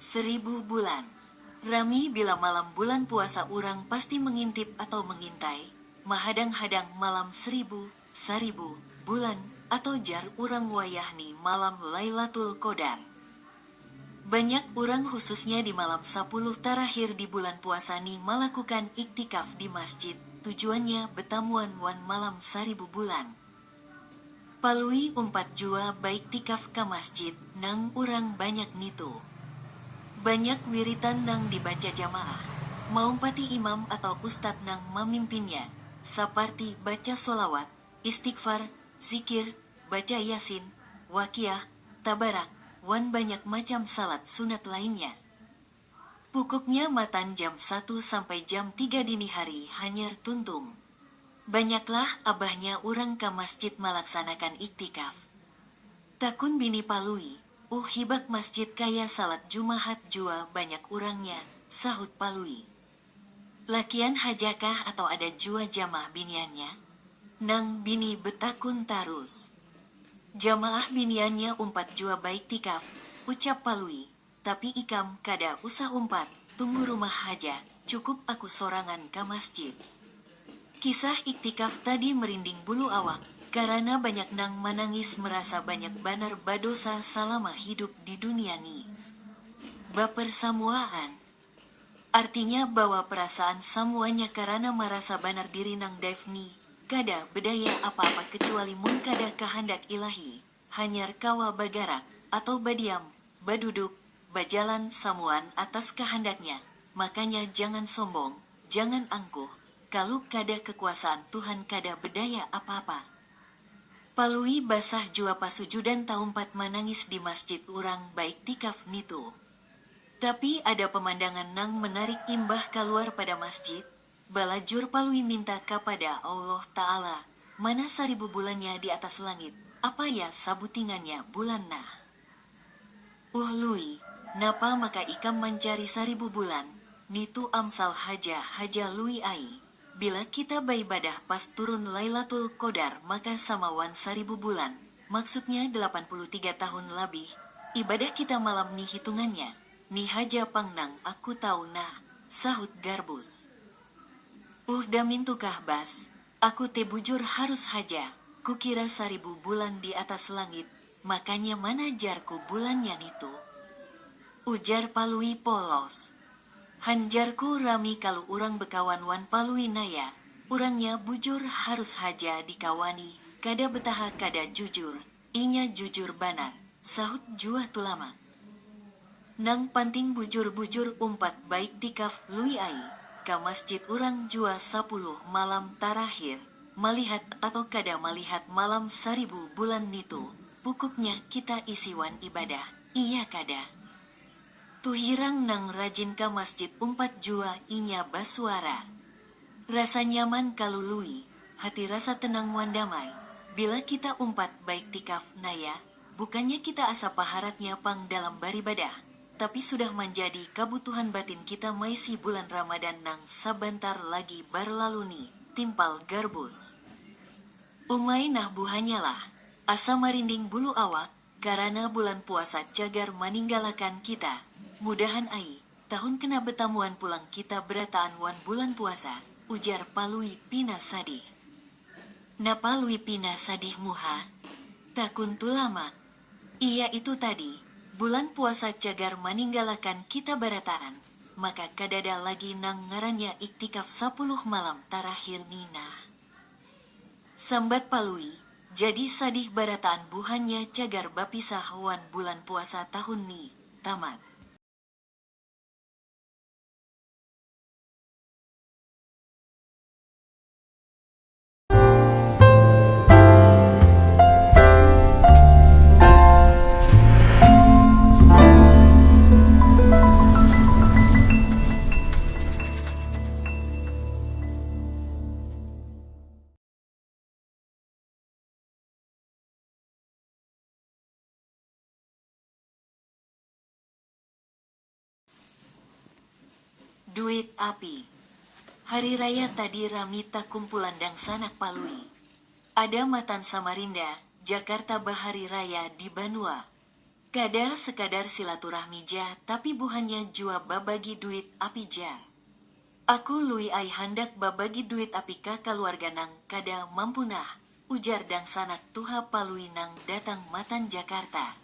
Seribu bulan. Rami bila malam bulan puasa urang pasti mengintip atau mengintai, mahadang-hadang malam seribu, saribu, bulan, atau jar urang wayah ni malam Lailatul Qodar. Banyak urang khususnya di malam sapuluh tarakhir di bulan puasa ni malakukan iktikaf di masjid, tujuannya betamuan wan malam saribu bulan. Palui umpat jua baiktikaf ka masjid nang urang banyak ngitu. Banyak wiritan nang dibaca jamaah, maumpati imam atau ustad nang mamimpinnya, saparti baca sholawat, istighfar, zikir, baca yasin, waqiah, tabarak, wan banyak macam shalat sunat lainnya. Pukuknya matan jam satu sampai jam tiga dini hari hanyar tuntung. Banyaklah abahnya urang ka masjid malaksanakan iktikaf. Takun bini Palui, Uh hibak masjid kaya salat jumahat jua banyak urangnya, sahut Palui. Lakian hajakah atau ada jua jamaah biniannya? nang bini betakun tarus. Jamaah biniannya umpat jua baiktikaf, ucap Palui. Tapi ikam kada usah umpat, tunggu rumah haja, cukup aku sorangan ka masjid. Kisah iktikaf tadi merinding bulu awak, karana banyak nang manangis merasa banyak banar badosa salama hidup di dunia ni. Baper samuaan. Artinya bawa perasaan samuanya karana marasa banar diri nang daif ni, kada bedaya apa-apa kecuali mun kada kahandak Ilahi. hanyar kawa bagarak atau badiam, baduduk, bajalan samuan atas kahandaknya, makanya jangan sombong, jangan angkuh, kalu kada kekuasaan Tuhan kada bedaya apa-apa. Palui basah jua pasujudan taumpat manangis di masjid urang baiktikaf nitu. Tapi ada pemandangan nang menarik imbah kaluar pada masjid, Balajur Palui minta kapada Allah Ta'ala, Mana saribu bulannya di atas langit, apaya sabutingannya bulan nah? Uhuh Lui, napa maka ikam mancari saribu bulan, nitu amsal haja haja Lui ai, bila kita baibadah pas turun Lailatul Qodar maka sama wan saribu bulan, maksudnya delapan puluh tiga tahun labih, ibadah kita malam ni hitungannya, Ni haja pang nang aku tahu nah, sahut Garbus. Uh damin tu kah Bas, aku te bujur harus haja, kukira saribu bulan di atas langit, makanya mana jar ku bulannya nitu? ujar Palui polos. Han jar ku rami kalu urang bekawan wan Palui naya, urangnya bujur harus haja dikawani, kada betaha kada jujur, Inya jujur banar, sahut jua Tulamak. Nang panting bujur-bujur umpat baiktikaf Lui ai, ka masjid urang jua sapuluh malam tarakhir, malihat atau kada malihat malam saribu bulan nitu, pukuknya kita isi wan ibadah, iya kada? Tuhirang nang rajin ka masjid umpat jua inya basuara. Rasa nyaman kalu Lui, hati rasa tenang wan damai, bila kita umpat baiktikaf, naya, bukannya kita asa paharatnya pang dalam baribadah, tapi sudah manjadi kabutuhan batin kita maisi bulan Ramadan nang sabantar lagi barlalu ni, timpal Garbus. Umai nah buhanyalah, asa marinding bulu awak, Karana bulan puasa cagar maninggalakan kita. Mudahan ai, tahun kena betamuan pulang kita berataan wan bulan puasa, ujar Palui pina sadih. Napa Lui pina sadih muha? takun Tulamak. Iya itu tadi, bulan puasa cagar maninggalakan kita barataan, maka kadada lagi nang ngarannya iktikaf sapuluh malam tarakhir ni nah. Sambat Palui, Jadi sadih barataan buhannya cagar bapisah wan bulan puasa tahun ni. Tamat. Duit api. Hari raya tadi rami takumpulan dangsanak Palui. Ada matan Samarinda, Jakarta bahari raya di banua. Kada sekadar silaturahmi ja tapi buhannya jua babagi duit api ja. Aku Lui ai handak babagi duit api ka kaluarga nang kada mampu nah, ujar dangsanak tuha Palui nang datang matan Jakarta.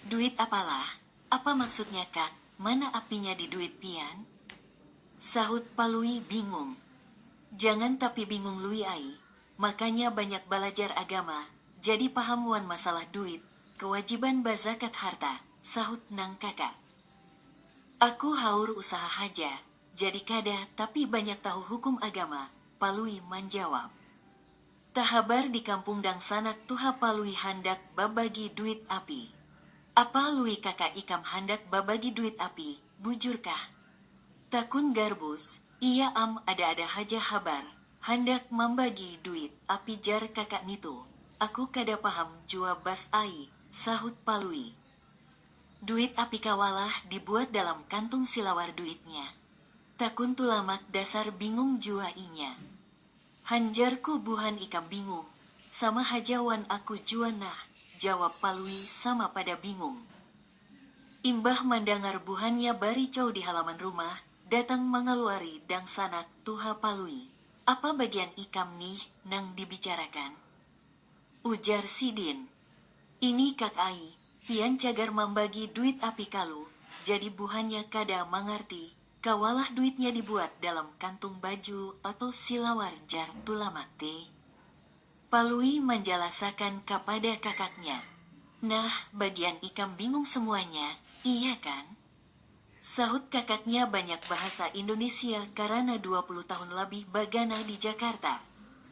Duit apalah, apa maksudnya kak, mana apinya di duit pian? sahut Palui bingung. Jangan tapi bingung Lui ai, makanya banyak balajar agama, jadi paham wan masalah duit, kewajiban bazakat harta, sahut nang kaka. Aku haur usaha haja, jadi kada tapi banyak tahu hukum agama, Palui manjawab. Tahabar di kampung dangsanak tuha Palui handak babagi duit api. Apa Lui kaka ikam handak babagi duit api, bujurkah? Takun Garbus, Iya am, ada-ada haja habar handak mambagi duit api jar kaka nitu. Aku kada paham jua bas ai, sahut Palui. Duit api kawalah dibuat dalam kantung silawar duitnya. Takun Tulamak dasar bingung jua inya. Han jarku buhan ikam bingung, sama haja wan aku jua nah, jawab Palui sama pada bingung. Imbah mandangar buhannya baricau di halaman rumah, datang mangaluari dangsanak tuha Palui. Apa bagian ikam nih nang dibicarakan? ujar sidin. Ini kak ai, pian cagar mambagi duit api kalu, jadi buhannya kada mangarti, kawalah duitnya dibuat dalam kantung baju atau silawar jar Tulamak te. Palui manjalasakan kapada kakaknya. Nah, bagian ikam bingung semuanya, iya kan? sahut kakaknya banyak bahasa Indonesia karana dua puluh tahun labih bagana di Jakarta.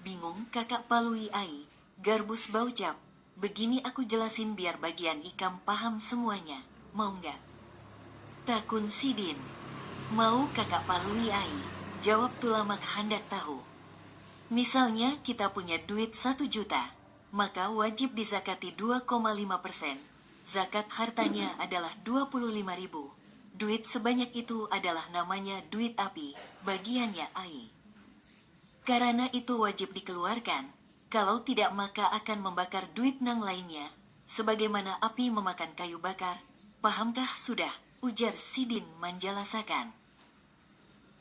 Bingung kakak Palui ai, Garbus baucap, Begini aku jelasin biar bagian ikam paham semuanya, mau nggak? takun sidin. Mau kakak Palui ai, jawab Tulamak handak tahu. Misalnya kita punya duit satu juta, maka wajib dizakati dua koma lima persen, zakat hartanya adalah dua puluh lima ribu, duit sebanyak itu adalah namanya duit api, bagiannya ai. Karana itu wajib dikeluarkan, kalau tidak maka akan membakar duit nang lainnya, sebagaimana api memakan kayu bakar, pahamkah sudah, ujar sidin manjalasakan.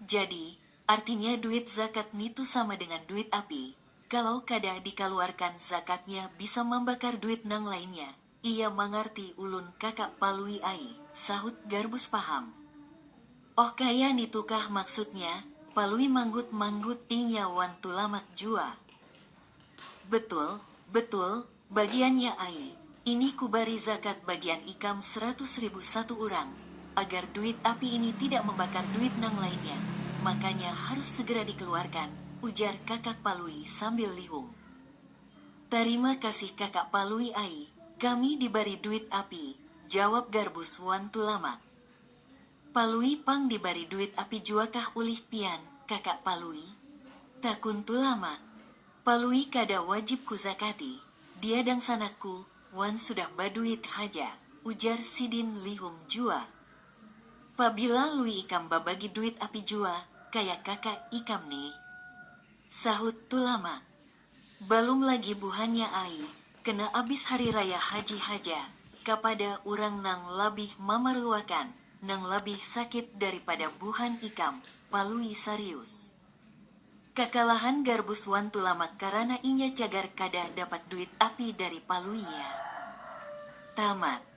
Jadi, artinya duit zakat nitu sama dengan duit api, kalau kada dikaluarkan zakatnya bisa mambakar duit nang lainnya, Iya mangarti ulun kakak Palui ai, sahut Garbus paham. Oh kaya nitukah maksudnya, Palui manggut manggut inya wan Tulamak jua. Betul, betul, bagiannya ai, ini kubari zakat bagian ikam seratus ribu satu urang, agar duit api ini tidak membakar duit nang lainnya, makanya harus segera dikeluarkan, ujar kakak Palui sambil lihum. Tarima kasih kakak palui ai, kami dibari duit api, jawab garbus wan tulamak. Palui pang dibari duit api juakah ulih pian, kakak palui? takun tulamak. Palui kada wajib kuzakati, dia dangsanakku wan sudah baduit haja, ujar sidin lihum jua. Pabila lui ikam babagi duit api jua kaya kakak ikam nih, sahut tulamak. Balum lagi buhannya ai, kena abis hari raya haji haja, kapada urang nang labih mamaruakan, nang labih sakit daripada buhan ikam, Palui sarius. Kakalahan Garbus wan Tulamak karana inya cagar kadah dapat duit api dari Palui ya. Tamat.